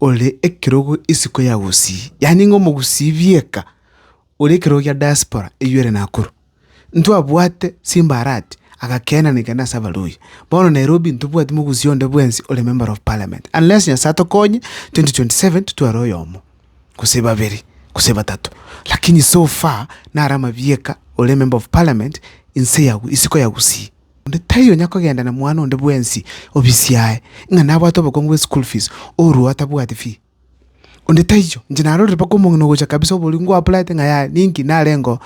ore ekerogo isiko ya gusii, yaani ng'a omogusii bieka ore ekerogo gia diaspora eyio ere Nakuru. Ntwabwate simbarati agakenaneka nase abaluhya. Bono Nairobi ntobwati mogusii onde bwensi ore member of parliament, unless Nyasaye atokonye 2027 totware oyomo, gose babere, gose batato. Lakini so far nare amabieka ore emember of parliament inse ya isiko ya gusii. Onde taiyo onya kogenda na mwana onde bwensi obisi yaye, ng'a nabwate obokongu bwe school fees, orue atabwati fee. Onde taiyo, inche narorire mpaka omong'ina ogocha kabisa oborio ngwa applyete ng'a yaya ninki narengeo,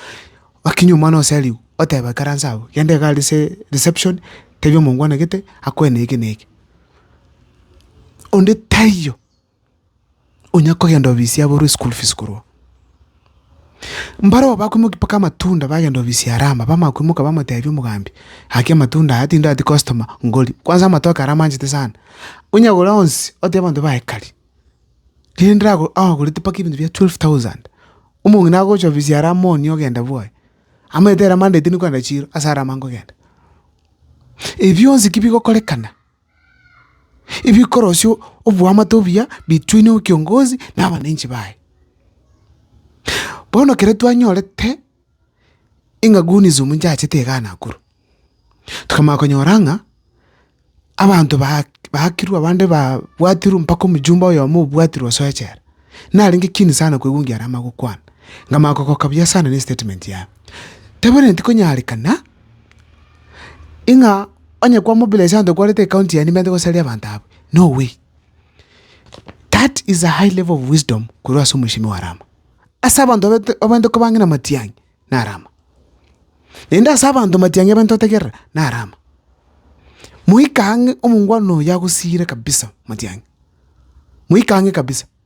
okinywe omwana ose ariwu, otebe ikaranse abwo, genda iga aria ase reception, tebia omongwana gete, akoe na eke na eke. Onde taiyo. onya kogenda obisia aborwe school fees korwa oo. Mbarobwo bakoimokia mpaka amatunda bagenda obisia Rama, bamanya koimoka bamotebia omogambi, gaki amatunda aya tindati customer ngoria, kwanza amatoke aria amanchete sana, onyagore onsi otebie abanto baye kari, riria ndirago agorete mpaka ebinto bia twelve thousand, omong'ina agocha obisia aria amooni ogenda bwoye, amanyete ere Monday tindi kogenda chiro, ase Rama nkogenda. Ebi bionsi ki bigokorekana. ebikorosia oboamate obuya bituine ekiongozi na abananchi baye. Bono ekero twanyorete ng'a Goonies omonto achete igaa Nakuru, tokamanya konyora ng'a abanto baak baakirwe abande babwatirwe mpaka omjumbe oyomo obwatirwe osoe echela, narenge keen sana koigwa ngiarama gokwana, nkamanya kogoka buya sana na estatement yaye. Tebwenereti konyarekana. Ing'a onye kwa mobile Asante kwarete ekaunti yaani mbete gosaria abanto abwo, no way. That is a high level of wisdom korwa ase omweshimiwa Arama. Ase abanto abete abande koba ang'e na Matiang'i, na Arama. Naende ase abanto Matiang'i abande otegerera, na Arama. Moika ang'e omongwana oyo agosiire kabisa Matiang'i. Moika ang'e kabisa.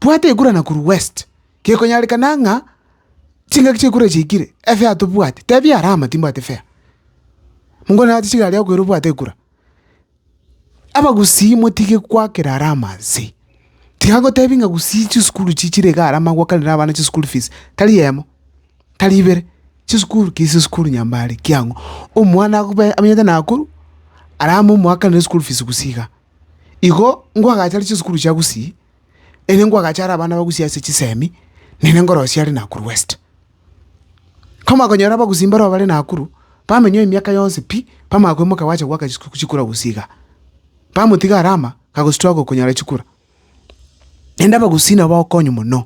Bwata ekura Nakuru West. Gekonyarekana ng'a chingaki chi'ekura echi chiaikire, efea tobwati, tebia Arama timbwati fea. Mongo nerache chigari akoira obwate ekura. Abagusii motige goakera Arama nse. Tiga gotebia ng'a gusii chisukuru echi chire iga Arama gwakanere abana chischool fees, tari eyemo, tari ibere, chisukuru ki chisukuru nyambare ki ang'o. Omwana akobe amenyete Nakuru, Arama omoakanere school fees gusii iga. Igo nkwagacha are chisukuru chia Gusii, ere nkwagacha are abana ba Gusii ase chisemi, nere nkorosia are Nakuru West. Komanya konyora Abagusii mbareo bare Nakuru, bamenyeo emiaka yonsi pi, bamanya koimoka gwacha goaka chisukuru chikura Gusii igaa. Bamotiga are ama, kagostruggle konyora chikura. Naende Abagusii nabo bagokonywa mono.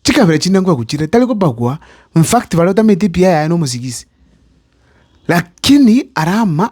Chikabira chinde nkwegwa chire, tari kobagwa, in fact bare otameti epiya yaye na omosigisi. Lakini are ama.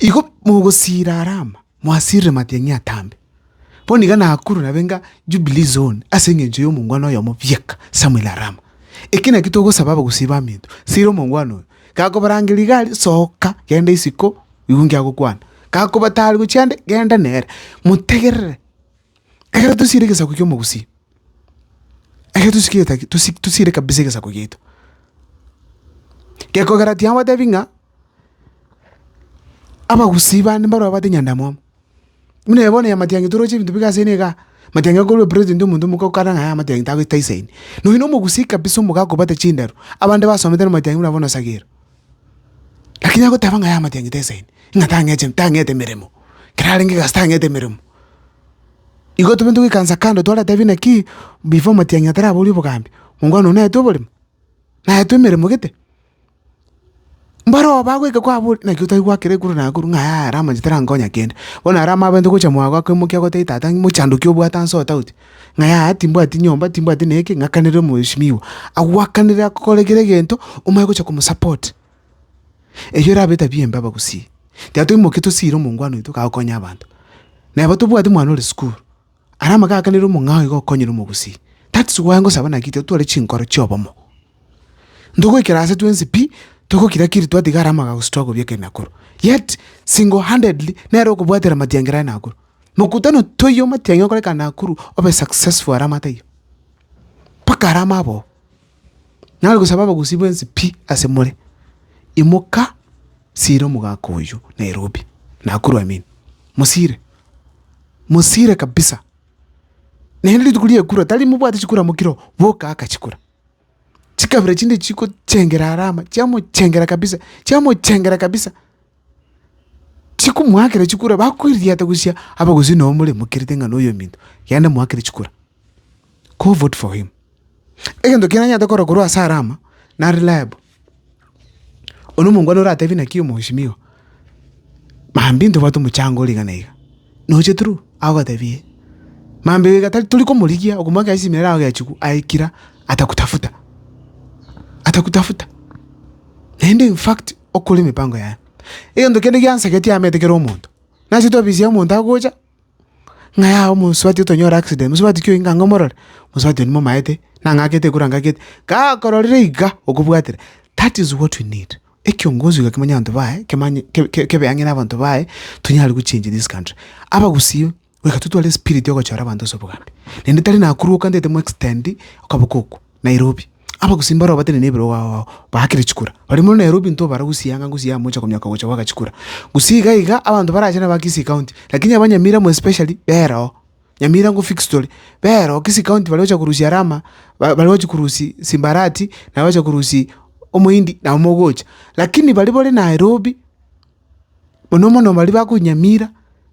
Igo mogosiira Arama, mwasiirire matiang'i atambe. Bono iga Nakuru nabe enga Jubilee Zone ase engencho y'omongwana oyomo bieka, Samuel Arama. Eki nakio togosaba abagusii baminto, siira omongwana oyo. Gakobarangeria iga aria, soka, genda isiko, igwe inki agokwana. Gakoba tari gochia ande, genda nere. Motegerere. Ekero tosiire egesaku ki'omogusii, ekero tosi kegeta tosi tosiire kabisa egesaku giaito, gekogera tiga ngotebi ng'a abagusii bande mbaroo babwate nyandamwamu. Buna ebe bono ya matiang'i toroche ebinto bigase eira igaa, matiang'i akorwa president omonto omoka okana ng'a aya amatiang'i tagoita isaini. Nonya na omogusii kabisa omogaga kobwate chindaru, abande basomete na matiang'i buna bono osagere. Lakini agoteba ng'a yamatiang'ete esaini, ng'a tang'eche tang'ete emeremo, ekero arenge egasi tang'ete emeremo. Igo tobwenerete goikansa kando twaratebi naki, before matiang'i atarabori obogambi, mokwana oyo naetwe oboremo? Naetwe emeremo gete? Mbaroo bagoika kwabori naki otari goakera ekuru na ekuru ng'a yaya ramache tarankonya kende, bono ara amaabete gocha mwago akoimokia goteba tata ng'imoki chandoki obwate ase otauti. ng'a yaya, timbwati nyomba, timbwati neke, ng'akanere omoesimiwa agwakanere akokore kera egento, omanye gocha komosupport. Eyio erabe etabia embe abagusii. Tiga toimoke tosiire omongwana oito kagokonya okonya abanto. Neba tobwati omwana ore sukuru, aria amaka akanere omong'ao iga okonyire omogusii. That's why ngosaba naki tiga tware chinkoro chia obomo. Ntogoikera ase twensi pi, togokira kiri twatiga aria amagago struggle bweka e Nakuru. Yet single handedly nere okobwatera amatiangera e Nakuru. Mokutano toyio omatiang'e okoreka Nakuru obe successful aramate aywo, mpaka arama aboo. Nare gosaba abagusii bwensi pi ase more, imoka sira omogaka oywo Nairobi, Nakuru I mean, mosire, mosire kabisa. Naende rituko ri'ekura tari mobwate chikura mokire oo, boka aka chikura. chikabira chinde chigochengera are ama, chiamochengera kabisa, chiamochengera kabisa, chikomoakera chikura, bakoirigiata gochia abagusii nabo moremokerete ng'a na oyo ominto, genda moakere chikura, go vote for him. Egento kiria nanyarete korora korwa ase Alama, na reliable. Oria omongwana oratebi naki omoesimio, mambi ntobwate omochango ore iga na iga. Noche true, agotebi ee. Mambi iga tari tori komorigia, okomoa gesi ime erao egechigwa aye kira atakutafuta, atakutafuta. Naende in fact, okore emipango yaye. Egento kende giansagetie ameete kera omonto, nase twabisia omonto agocha. ng'ai aye omosubati otonyore accident, mosubati ki oyio ng'a omorore, mosubati oyio momaete, nang'akete ekura ngakete, gakororire iga okobwatire that is what we need ekiongozi iga kimanye abanto baye, kimanye ke- ke- kebe ang'e na abanto baye, tonyare gochengi this country. Abagusii, reka totware espiriti ya ogochora abanto ase obogambi, naende tari nakuru okande ete mo extend okaboko okwo. Nairobi. Abagusii mbaroo batenene ebirogo ao ao baakire chikura. Baria more Nairobi intwe bare gusii anga gusii amo ocha komioka gocha goaka chikura. Gusii iga iga abanto barache naba Kisii county lakini aba Nyamira more especially bera oo. Nyamira ngwo fixed tore. Bera oo Kisii county baria ocha korusia rama ba baria ochi korusi simbarati nabo ocha korusi omohindi nabo mogocha. Lakini baria bore Nairobi. Mono mono baria bakonyamira,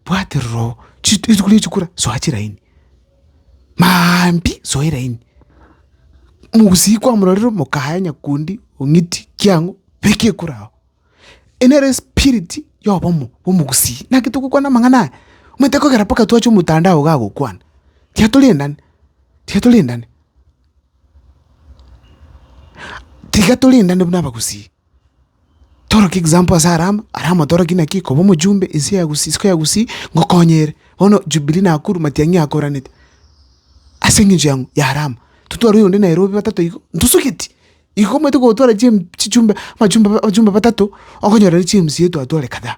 bwate rora oo, chit rituko ria chikura, soa chiraini, maambia soa eraini, mogusii kwamororire mokaye nyakundi ong'iti kiang'o, beka ekura agwo. Eye nere espiriti ya obomo bwa omogusii, naki togokwana amang'ana aya, omanyete kogera mpaka twache omotandao iga agokwana, tiga torendane, tiga torendane tiga torendane buna abagusii. Toro ki example ase Alama, Alama toro ki naki koba omojumbe ense ya Gusii isiko ya Gusii ngokonye ere. Bono Jubilee Nakuru matiang'i akoranete, ase eng'encho yang'o? ya Alama. Totware oyonde Nairobi batato igo, ntosugeti. Igo omanyete gotwara chim chichumbe amachumbe abachumbe batato, okonyora ere chiMCA twatware kadhaa.